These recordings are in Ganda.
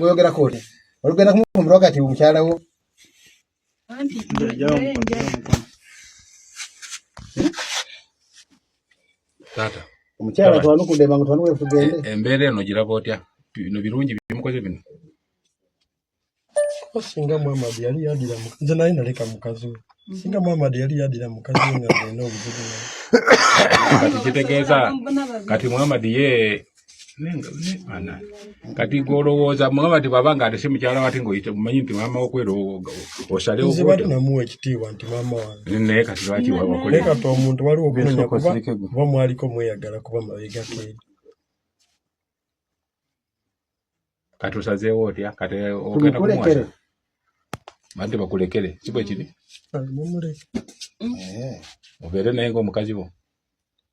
oyogera koti olugenda kumufumbirwa kati omukyala wo taata omukyala twanukude mangu twanuwe tugende e, embeera eno giraba otya bino birungi bimukoze bino singa muhammad yali yadira nze naye naleka mukazi we singa muhammad yali yadira mukazi we nga alina obuzibu kati kitegeeza kati muhammad ye kati ngolowooza mugamba nti bwaba nga alese mukyala wati ngaoyite mumanyi nti maama wokwera osalewonamuwa ekitiibwa nti maama wange naye kati lwaki wakonaye kati omuntu waliwo okunonya kuba kuba mwaliko mweyagala kuba mabegako eri kati osazeewo otya kati ogenda kumuwasa bante bakulekere si bwe kiri mumuleere eh. obeere naye ng'omukazi wo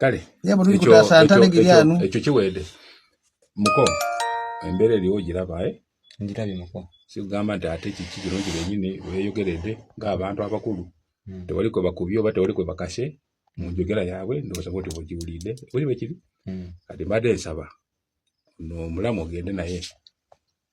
kale yebo tuli kutasa ntane giriano ekyo kiwede muko embere liwo giraba eh ngirabi muko sigamba nti ate kiki kirungi benyini weyogerede nga abantu abakulu hmm. tewali kwe bakubye oba tewali kwe bakashe mu njogera yaabwe ndowooza bwoti bwegiwulidde oli bwekiri hmm. kati mbadde nsaba no omulamu ogende naye